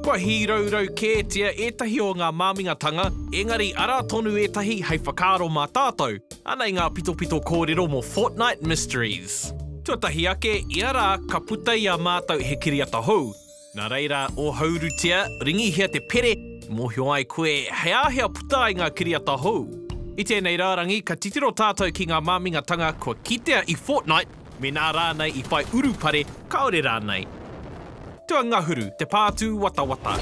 Kua hīraurau kētia ētahi o ngā māmingatanga, engari arā tonu ētahi hei whakaaro mā tātou. Anei ngā pitopito kōrero mō Fortnight Mysteries. Tuatahi ake ia rā ka puta i a mātou he kiriata hou. Nā reira, ōhaurutia, ringihia te pere e mōhio ai koe he āhea puta ai ngā kiriata hou. I tēnei rārangi ka titiro tātou ki ngā māmingatanga kua kitea i Fortnight. Mēnā rānei i whai urupare, kāore rānei. Tuangahuru, te pā tūwatawata.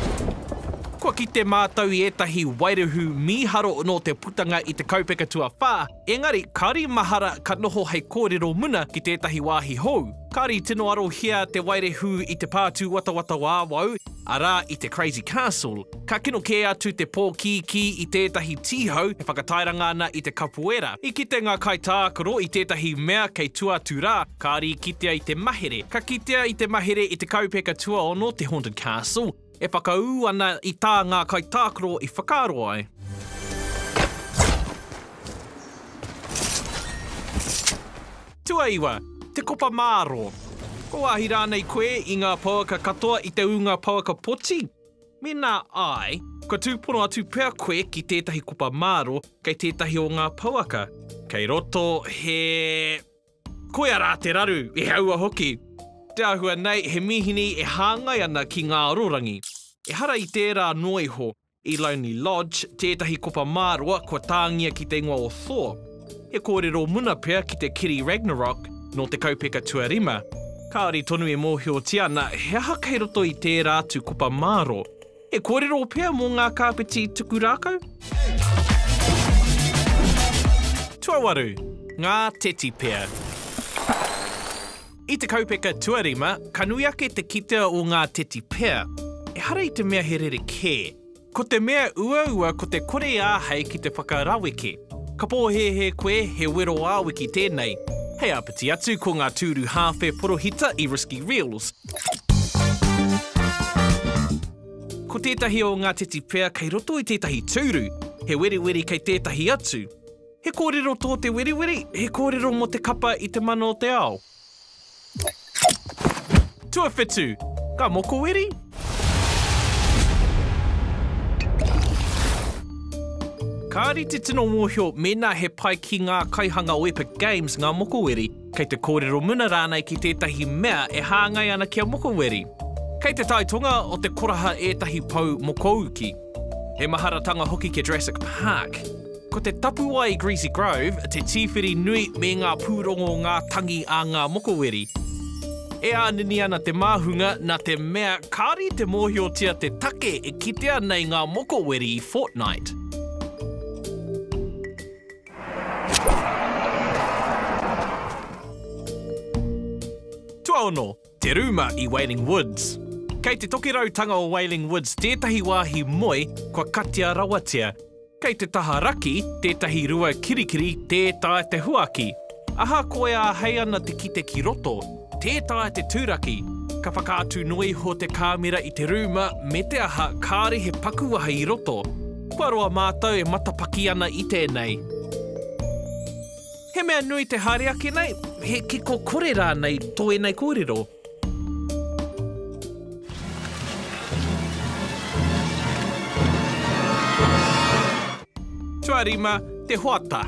Kua kite mātou i ētahi wairuhu mīharo nō te putanga i te kaupeka tuawhā, engari kāore i mahara ka noho hei kōrero muna ki tētahi wāhi hou. Kāore i tino arohia te wairehu i te pā tūwatawata o awau, arā, i te Crazy Castle. Ka kino kē atu te pōkīkī i tētahi tīhau e whakatairanga ana i te kapoera. I kite ngā kaitākaro i tētahi mea kei tua atu rā, kāore i kitea i te mahere. Ka kitea i te mahere i te kaupeka tuaono, te Haunted Castle, e whakaū ana i tā ngā kaitākaro i whakaaro ai. Tuaiwa, te kopa māro. Kua wāhi rānei koe i ngā pouaka katoa i te ūnga pouaka poti? Mēnā āe, kua tūpono atu pea koe ki tētahi kupa māro kei tētahi o ngā pouaka kei roto he Koia rā te raru, i aua hoki! Te āhua nei he mīhini e hāngai ana ki ngā arorangi. Ehara i tērā noa iho, i Lonely Lodge, tētahi kupa māroa kua tāngia ki te ingoa o Thor. He kōrero muna pea ki te kiri Ragnarok nō te kaupeka tuarima, kāore tonu e mōhiotia ana he aha kei roto i tērā atu kopa māro. He kōrero pea mō ngā kāpeti tuku rākau? Tuawaru, ngā teti pea. I te kaupeka tuarima, ka nui ake te kitea o ngā teti pea. Ehara i te mea he rerekē. Ko te mea uaua ko te kore āhei ki te whakaraweke. Ka pōhēhē koe he wero ā-wiki tēnei. Hei āpiti atu ko ngā tūru hāwhe porohita i Risky Reels. Ko tētahi o ngā teti pea kei roto i tētahi tūru, he weriweri kei tētahi atu. He kōrero tō te weriweri, he kōrero mō te kapa i te mana o te ao. Tuawhitu, ka mokoweri? Kāri te tino mōhio mēnā he pai ki ngā kaihanga o Epic Games ngā mokoweri, kei te kōrero muna rānei ki tētahi mea e hāngai ana kia mokoweri. Kei te tai tonga o te koraha ētahi pou mokouki. He maharatanga hoki kia Jurassic Park. Ko te tapuwae Greasy Grove te tīwhiri nui me ngā pūrongo ngā tangi a ngā mokoweri. E ānini ana te māhunga nā te mea kāore i te mōhiotia te take e kitea nei ngā mokoweri i Fortnite. Tuaono. Te rūma i Wailing Woods. Kei te tokirautanga o Wailing Woods tētahi wāhi moe kua katia rawatia. Kei te taha raki tētahi rua kirikiri tē taea te huaki. Ahakoa e āhei ana te kite ki roto, tē taea te tūraki. Ka whakaatu noa iho te kāmera i te rūma me te aha kāore he pakuwaha i roto. Kua roa mātou e matapaki ana i tēnei. He mea nui te haere ake nei, he kiko kore rānei tō ēnei kōrero. Tuarima te hoata.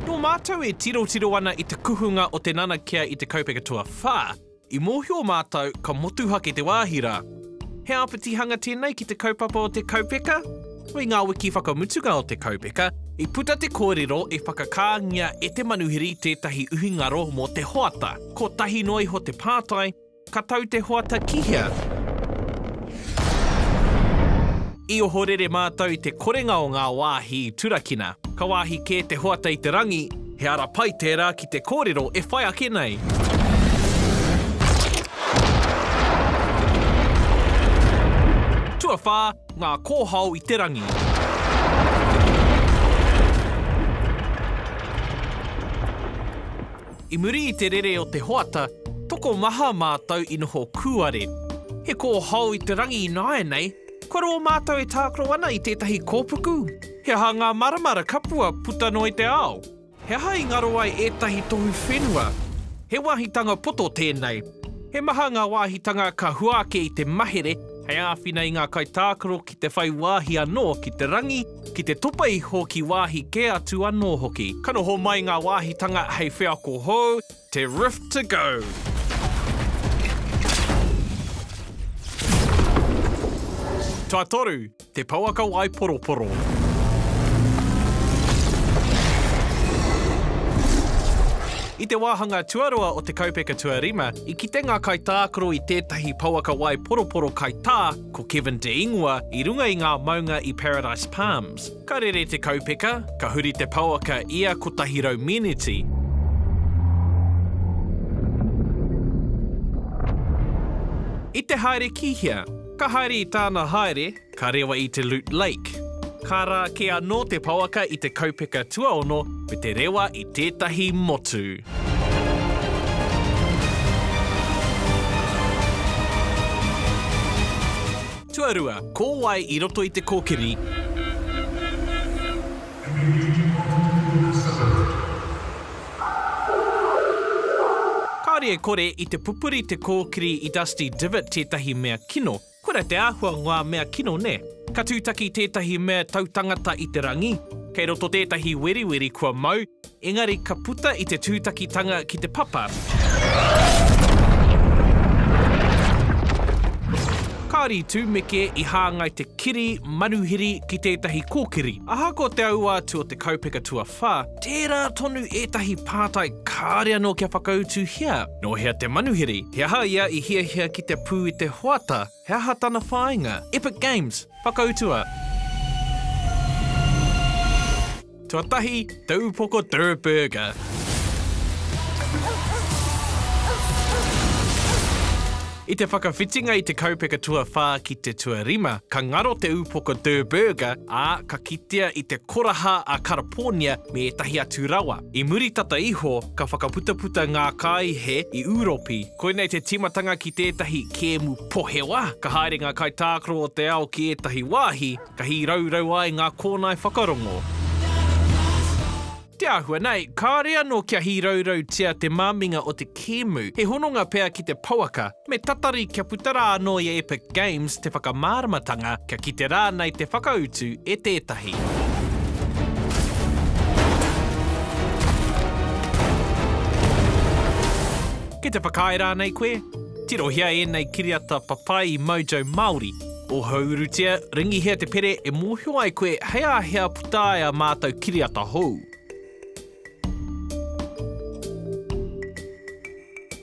Nō mātou e tirotiro ana i te kuhunga o te nanakia i te kaupeka tuawhā. I mōhio mātou ka motuhake te wāhi rā. He āpitihanga tēnei ki te kaupapa o te kaupeka? I ngā wiki whakamutunga o te kaupeka, i puta te kōrero e whakakāngia e te manuhiri tētahi uhi ngaro mō te hoata. Kotahi noa iho te pātai, ka tau te hoata ki hea? I ohorere mātou i te korenga o ngā wāhi i turakina. Ka wāhi kē te hoata i te rangi. He ara pai tērā ki te kōrero e whai ake nei. Tuawhā, ngā kōhao i te rangi. I muri i te rere o te hoata, tokomaha mātou i noho kūare. He kōhao i te rangi ināianei, Kua roa mātou e tākaro ana i tētahi kōpuku? He aha ngā maramara kapua puta noa i te ao? He aha i ngaro ai ētahi tohu whenua? He wāhitanga poto tēnei. He maha ngā wāhitanga ka hua ake i te mahere hei āwhina i ngā kaitākaro ki te whai wāhi anō ki te rangi, ki te topa iho ki wāhi kē atu anō hoki. Ka noho mai ngā wāhitanga hei wheako hou, Te Rift to go! Tuatoru, te pouaka wai poroporo. I te wāhanga tuarua o te kaupeka tuarima, i kite ngā kaitākaro i tētahi pouaka wai poroporo kaitā ko Kevin De Ingua i runga i ngā maunga i Paradise Palms. Ka rere te kaupeka, ka huri te pouaka ia 100 meneti. I te haere ki hea? Ka haere i tāna haere, ka rewa i te Lute Lake. Ka rā kē anō te pouaka i te kaupeka tuaono me te rewa i tētahi motu. Tuarua, ko wai i roto i te kōkiri? Kāore e kore, i te pupuri te kōkiri i Dusty Divot tētahi mea kino. Kura te āhua ngā mea kino, nē? Ka tūtaki tētahi mea tautangata i te rangi. Kei roto tētahi weriweri kua mau, Engari ka puta i te tūtakitanga ki te papa, kāore i tūmeke i hāngai te kiri manuhiri ki tētahi kōkiri. Ahakoa te aua atu o te kaupeka tuawhā, tērā tonu ētahi pātai kāore anō kia whakautuhia, nō hea te manuhiri, he aha ia i hiahia ki te pū i te hoata, He aha tana whāinga? Epic Games, whakautua! Tuatahi, te upoko Durr Burger. I te whakawhitinga i te kaupeka tuawhā ki te tuarima, ka ngaro te upoko Durr Burger, ā, ka kitea i te koraha a Karapōnia me ētahi atu rawa. I muri tata iho, ka whakaputaputa ngā kāihe i Ūropi, Koinei te tīmatanga ki tētahi kēmu pohewa. Ka haere ngā kaitākaro o te ao ki ētahi wāhi, ka hīraurau ai ngā kōnae whakarongo. Te āhua nei, kāore anō kia hīraurautia te māminga o te kēmu, he hononga pea ki te pouaka, me tatari kia puta rā anō ia e. Games te whakamāramatanga kia kite rānei te whakautu e tētahi. Ki te whakaae rānei koe? Tirohia ēnei kiriata papai i Mojo Māori. Ohourutia, ringihia te pere e mōhio ai koe hei āhea puta ai a mātou kiriata hou.